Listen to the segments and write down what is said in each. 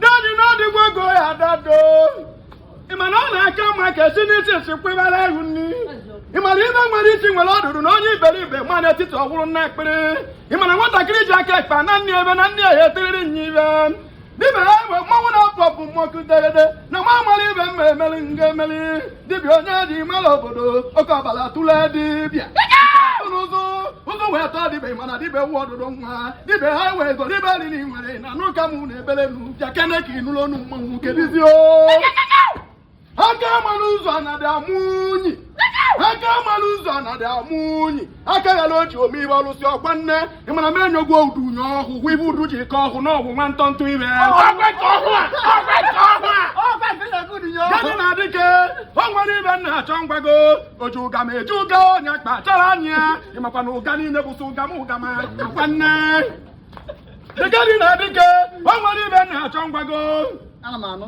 dadi n'ọdịgwa ego ya dado ịma na ọ na-aka mma ka esi n'isi esi kwebara ihu nri ịma na ibe nwere isi nwere ọdụdụ na onye iberibe ma n'etiti ọgwụrụ nna ekpere ịma na nwatakịrị ji aka ekpe na nne ebe na nne ya etiriri nya ibe dịbe ya mgbe mmanwụ na-apụ ọpụ mmọkụ degede na nwa amara ibe m ma emeli nga emeli dibịa onye ji mara obodo oke ọbara tụle dibịa n'ụzụ ụzụ wee tọọ dibịa mana dibịa nwa ọdụdụ nwa dibịa ha wee zọ dibịa riri nwere na n'ụka m na ebele nu bịakene ka ị nụrụ ọnụ mmanwụ kedizi o aka mara ụzọ na dị amụ unyi aka mara ụzọ na dị amụ unyi aka ya na o ji omeibe ọlụsị ọkwa nne ị mara m enyogwu udu unye ọhụ hụ ibe udu ji ka ọhụ n'ọgwụ nwa ntọ ntụ ime gani na dike o nwere ibe m na-achọ ngwago oji ụga ma eji ụga onye akpa achọrọ anyị ya ịmakwa na ụga niile bụsị ụga m ụga ma ọkwa nne dịgadi na dike o nwere ibe m na-achọ ngwago ana m anụ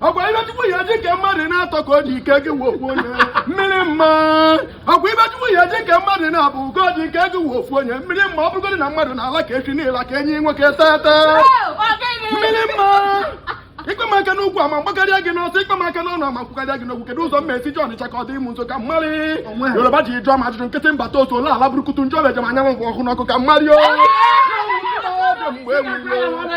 ọkwa ibe chukwu ya ji kee mmadụ n'atọ ka o ji kee gị wee ofu onye mmiri mma ọkwa ibe chukwu ya ji kee mmadụ naabọ ka o ji kee gị wee ofu onye mmiri mma ọ bụrụgodị na mmadụ na-ala ka echi niile ka enyi nwoke tete mmiri mma ịkpa m aka n'ụkwụ ama m gbakarịa gị n'ọsọ ịkpa m aka n'ọnụ ama m kwukarịa gị n'okwu kedu ụzọ m esi je ọnịcha ka ọ dị m nso ka mmarị yoruba ji jụọ m ajụjụ nkịtị mbata otu ole ala burukutu njọ lejem anya m bụ ọkụ n'ọkụ ka mmarị o mgbe enwere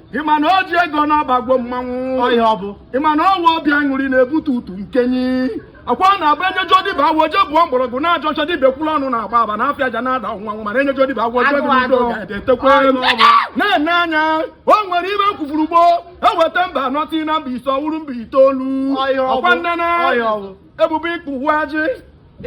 ịma na o ji ego n'ọba gwo mmanwụ ọhịa ọ bụ ịma na ọ wụ obi aṅụrị na-ebute utu nkenyi ọkwa ọ na-abụ enye ajọ dibịa agwọ je bụọ mgbọrọgwụ n'ajọ ọhịa dibịa kwụrụ ọnụ na-agba aba na afịa aja na-ada nwanwụ mana enye ajọ dibịa agwọ je bụrụ udo ga-etekwa na-ene anya o nwere ibe m kwuburu gboo eweta mba anọ ti na mba ise ọ wụrụ mba itoolu ọkwa nnene ebube ikpu wụ ajị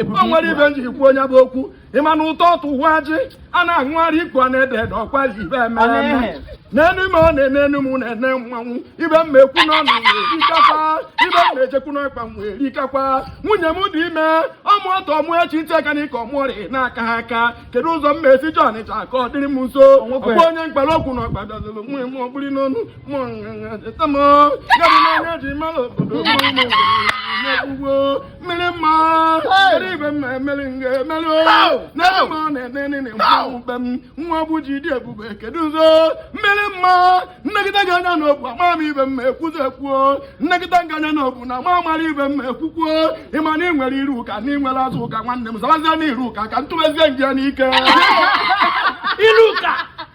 o nwere ibe m jiri kwuo onye bụ okwu ịma na ụtọ ọtụ wụ ajị a na-aṅụgharị ikpu a na-ede ede ọkwa ji ibe emere eme n'enu m ọ na-ene enu m na-ene mmanwụ ibe m ekwu n'ọnụ m erikakwa ibe m na-ejekwu n'ọkpa m erikakwa nwunye m dị ime ọ mụọ taa mụọ echi ntị aka n'ike ọmụọrị na-aka ha aka kedu ụzọ m na-esi je ọnịcha ka ọ dịrị m nso ọkwa onye m kpara okwu na ọkpa dọzụrụ nwunye m ọgbụrị n'ọnụ mụ nṅaṅa cheta m gadị n'anya ji mara obodo mụ mụ na-ekwugbo mmiri mma eri ibe m na-emeri nga emeri n'ebe ma ọ na-enene na mmanwụ ibe m nwa bụ ji dị ebube kedu ụzọ mmiri mma m negide gị anya na obu ama m ibe m ma ekwuzi ekwuo m negide gị anya na obu na ma amara ibe m ma ekwukwuo ịma na ị nwere iru ụka na ị nwere azụ ụka nwanne m zabazie na iru ụka ka ntụbezie nje n'ike iru ụka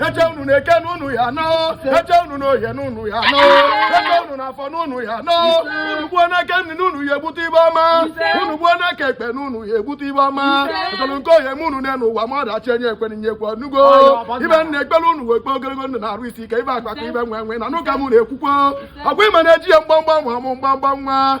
eche unu n'eke na unu ya-anọ eche unu n'oye na unu ya-anọ eche unu n'afọ na unu ya-anọ unu gbuo n'aka nri na unu ya-egbute ife ọma unu gbuo n'aka ekpe na unu ya-egbute ife ọma ọtọrọ nke ohe m unu na n'ụwa ma ọdachi enye ekwere nye ekwe nụgo ife m na-ekpere unu wee kpee ogologo ndụ na arụ isi ike ife akụ akụ ife enwe enwe na n'ụka m na-ekwukwo ọgwa ịma na-eji ya mgbamgba nwa mụ mgbamgba nwa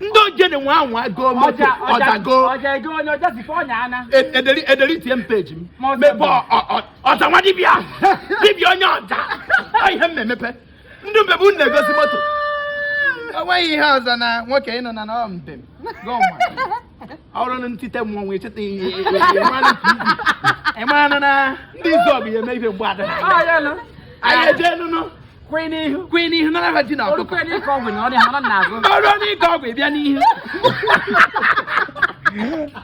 ndị ogene nwe anwụ agụọ moto ọdago ederi tie m peji m mebe ọza nwa dibịa dibịa onye ọja ihe m na-emepe ndị mbebe unu na-egosi moto o nweghị ihe ọzọ na nwoke ịnọ na nọọ mbem ọrụ na ntite mmọnwụ echeta ihe ịmara na ndị izu ọgụ ya eme ife mgbe ada anyị eje nụnụ kwee n'ihu kwee n'ihu nara ha ji na ọkụkọ ọrụ n'ike ọgwụ ịbịa n'ihu